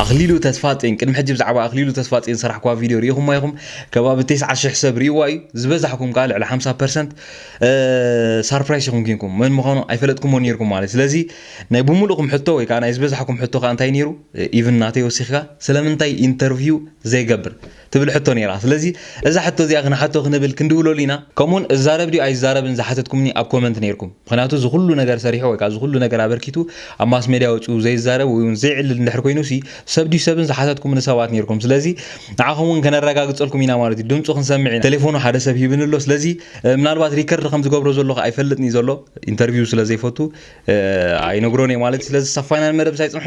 ኣኽሊሉ ተስፋጼን ቅድሚ ሕጂ ብዛዕባ ኣኽሊሉ ተስፋጼን ዝሰራሕኩዋ ቪድዮ ርኢኹማ ኢኹም ከባቢ ቴስዓ ሽሕ ሰብ ርኢዋ እዩ ዝበዛሕኩም ከኣ ልዕሊ ሓምሳ ፐርሰንት ሳርፕራይስ ኢኹም ኪንኩም መን ምዃኑ ኣይፈለጥኩሞ ኔርኩም ማለት ስለዚ ናይ ብምሉእኩም ሕቶ ወይ ከኣ ናይ ዝበዛሕኩም ሕቶ ከኣ እንታይ ኔሩ ኢቭን ናተይ ወሲኽካ ስለምንታይ ኢንተርቪው ዘይገብር ትብል ሕቶ ነይራ። ስለዚ እዛ ሕቶ እዚኣ ክንሓቶ ክንብል ክንድውለሉ ኢና። ከምኡውን እዛረብ ድዩ ኣይዛረብን ዝሓተትኩምኒ ኣብ ኮመንት ነይርኩም። ምኽንያቱ እዚ ኩሉ ነገር ሰሪሑ ወይ ከኣ እዚ ኩሉ ነገር ኣበርኪቱ ኣብ ማስሜድያ ወጺኡ ዘይዛረብ ወይውን ዘይዕልል እንድሕር ኮይኑሲ ሰብ ድዩ ሰብን ዝሓተትኩምኒ ሰባት ነይርኩም። ስለዚ ንዓኹም እውን ከነረጋግጸልኩም ኢና ማለት እዩ። ድምጹ ክንሰምዕ ኢና። ቴሌፎኑ ሓደ ሰብ ሂብኒ ኣሎ። ስለዚ ምናልባት ሪከርድ ከም ዝገብሮ ዘለኹ ኣይፈልጥን እዩ ዘሎ። ኢንተርቪው ስለ ዘይፈቱ ኣይነግሮን እየ ማለት እዩ። ስለዚ ሳብ ፋይናል መደብ ሳይጽንሑ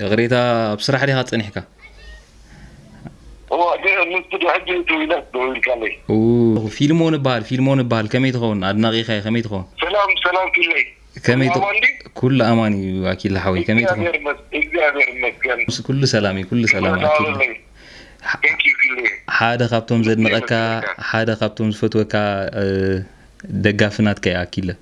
ይቕሬታ ኣብ ስራሕ ዲኻ ጸኒሕካ? ፊልሞን እባሃል ፊልሞን እባሃል ከመይ ትኸውን ኣድናቂኻ እየ ከመይ ትኸውን ሰላም ሰላም ፊለይ ከመይ ኩሉ ኣማን እዩ ኣኪለ ሓወይ ከመይ ትኸውን ኩሉ ሰላም እዩ ኩሉ ሰላም ሓደ ካብቶም ዘድንቀካ ሓደ ካብቶም ዝፈትወካ ደጋፊ ናትካ እየ ኣኪለ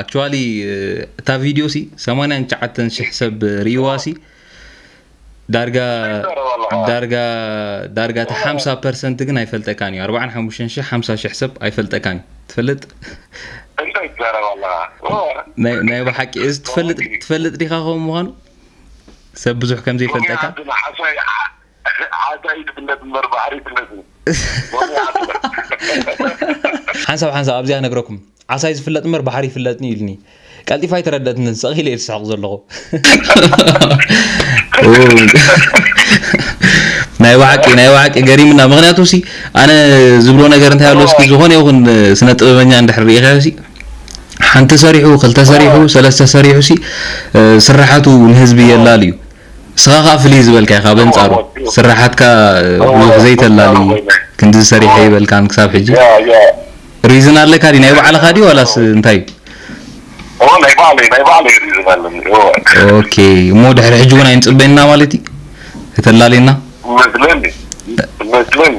ኣክቹዋሊ እታ ቪድዮ ሲ 89 ሽሕ ሰብ ርእይዋ ሲ ዳርጋ ዳርጋ ዳርጋ እቲ 50 ፐርሰንት ግን ኣይፈልጠካን እዩ 45 ሽሕ 50 ሽሕ ሰብ ኣይፈልጠካን እዩ ትፈልጥ እንታይ ትዛረብ ኣለኻ ናይ ብሓቂ እዚ ትፈልጥ ትፈልጥ ዲኻ ኸም ምዃኑ ሰብ ብዙሕ ከም ዘይፈልጠካ ዓዳ ኢድ ብለድ እምበር ባሕሪ ብለድ ሎሚ ዓስበ። ሓንሳብ ሓንሳብ ኣብዚኣ ነግረኩም ዓሳይ ዝፍለጥ እምበር ባሕሪ ይፍለጥኒ ኢሉኒ ቀልጢፋ ኣይተረደእትንን ሰቅ ኢለ ኢየ ዝስሕቅ ዘለኩ። ናይ ባሓቂ ናይ ባሓቂ ገሪምና ምክንያቱ ሲ ኣነ ዝብሎ ነገር እንታይ ኣሎ እስኪ ዝኮነ ይኩን ስነ ጥበበኛ እንድሕር ሪኢካዮ ሲ ሓንቲ ሰሪሑ ክልተ ሰሪሑ ሰለስተ ሰሪሑ ሲ ስርሓቱ ንህዝቢ የላልዩ ንስኻ ከኣ ፍልይ ዝበልካ ኢኻ በንጻሩ ስርሓትካ ብዙሕ ዘይተላሊ ክንድዚ ሰሪሐ ኣይበልካን ክሳብ ሕጂ ሪዝን ኣለካ ድዩ ናይ ባዕልኻ ድዩ ዋላስ እንታይ እዩ ኦ ናይ ባዕለይ ናይ ባዕለይ ሪዝን ኣለኒ ኦኬ እሞ ድሕሪ ሕጂ ውን ኣይንጽበይን እና ማለት እዩ ከተላልየና መስለኒ መስለኒ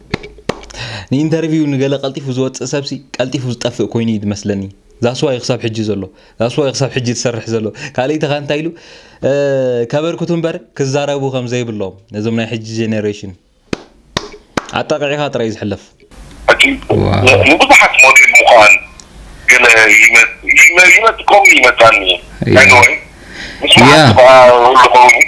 ንኢንተርቪው ንገለ ቀልጢፉ ዝወጽእ ሰብሲ ቀልጢፉ ዝጠፍእ ኮይኑ እዩ ዝመስለኒ ዛስዋ እዩ ክሳብ ሕጂ ዘሎ ዛስዋ እዩ ክሳብ ሕጂ ዝሰርሕ ዘሎ ካልእይቲ ከ እንታይ ኢሉ ከበርክቱ እምበር ክዛረቡ ከም ዘይብሎም ነዞም ናይ ሕጂ ጀኔሬሽን ኣጣቂዕኻ ጥራይ ዝሕለፍ ንብዙሓት ሞዴል ምዃን ገለ ይመጽ ኮም ይመጻኒ ኣይ ኖ ምስ መዓልቲ ከኣ ልኸውን እዩ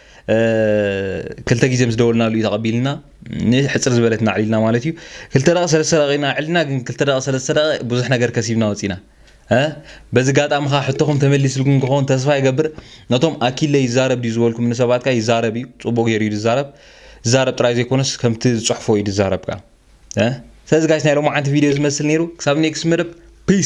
ክልተ ግዜ ምስ ደወልናሉ እዩ ተቐቢልና ንሕፅር ዝበለት ናዕሊልና ማለት እዩ ክልተ ደቂ ሰለስተ ደቂ ኢና ዕልና ግን ክልተ ደቂ ሰለስተ ደቂ ብዙሕ ነገር ከሲብና ወፂና በዚ ጋጣሚ ከዓ ሕቶኹም ተመሊስልኩም ክኸውን ተስፋ ይገብር ነቶም ኣኪለ ይዛረብ ድዩ ዝበልኩም ንሰባት ከዓ ይዛረብ እዩ ፅቡቅ ገይሩ እዩ ዝዛረብ ዝዛረብ ጥራይ ዘይኮነስ ከምቲ ዝፅሕፎ እዩ ዝዛረብ ከዓ ስለዚ ጋይስ ናይ ሎማዓንቲ ቪድዮ ዝመስል ነይሩ ክሳብ ኔክስት መደብ ፒስ